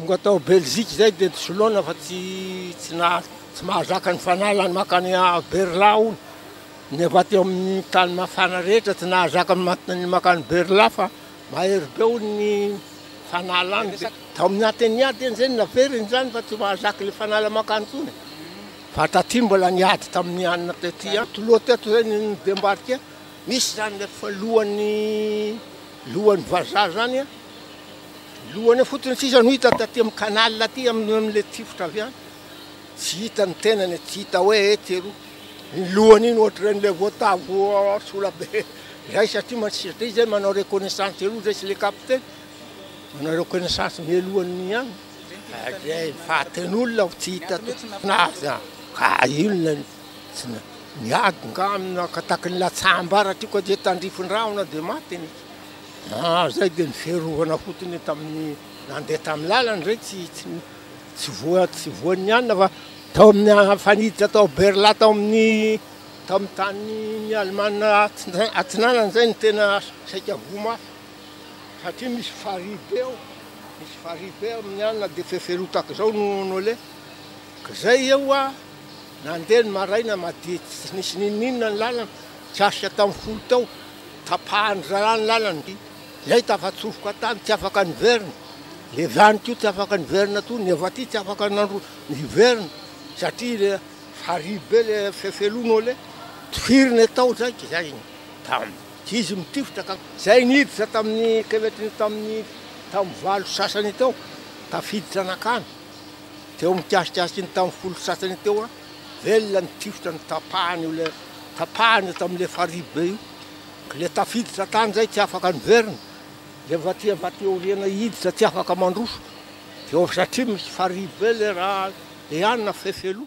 Tonga tao Belgique zay dia soloana fa tsy tsy na tsy mahazaka ny fanalany makany Berla hono. Nefa teo amin'ny tany mafana rehetra tsy nahazaka ny makany Berla fa mahery be hono ny fanalany. Tao amin'ny Athénée teny izay no naveriny izany fa tsy mahazaka ilay fanala makany intsony. Fa taty mbola niady tamin'ny anona tety Antoloha teto izay ny Bembarika, nisy izany ilay efa lohan'ny lohan'ny vazaha izany an, lohany eo fotsiny sisa no hita taty amin'ny canal aty amin'ilay tifitra avy any, tsy hita ny tenany e, tsy hita hoe etsy eroa, iny lohany iny ohatran'ilay voatavo sola be izay satria mandrisika izay manao reconnaissance eroa izay sy ilay kapiteny, manao reconnaissance mialohan'ny anona. Zay fatin'olona aho tsy hita azy ka inona no niady nga nakataky ny latsambarako ka dia tandrifin-drahona dia maty ny ah zay dia ny fiarovana fotony tamin'ny nandeha tamin'ny lalana zay tsy tsy voa tsy voan'ny anona fa tao amin'ny faniditra tao berla tao amin'ny tao amin'ny tanin'ny alemana atsinanana zay ny tena saika voa mafy Satria misy farihy be ao, misy farihy be amin'ny alina dia feferoa tahaka izao no noeleko. K'izay eo hoa nandeha ny maraina madidy tsy nisy n'inon'inona ny lalana, tsy hasitra tamin'ny folo teo, tapahan'ny rahalahy ny lalana. Izay tafatsofoka tany tsy afaka niverina, levy any koa tsy afaka niverina koa, ny avy aty tsy afaka nandro- niverina satria le farihy be le fefeloa noeleko, tifirina tao izay k'izay. Izy mitifitra ka. Izay niditra tamin'ny kevetriny tamin'ny tamin'ny valo sasany teo, tafiditra nankany, teo amin'ny mikasikasiky ny tamin'ny folo sasany teo an, velona ny tifitra no tapahany io ilay, tapahany io tamin'ilay farihy be io, ilay tafiditra tany izay tsy afaka niverina, ilay vatia vatia aoriana hiditra tsy afaka mandroso, dia satria misy farihy be ilay raha, dia any na fefy aloha.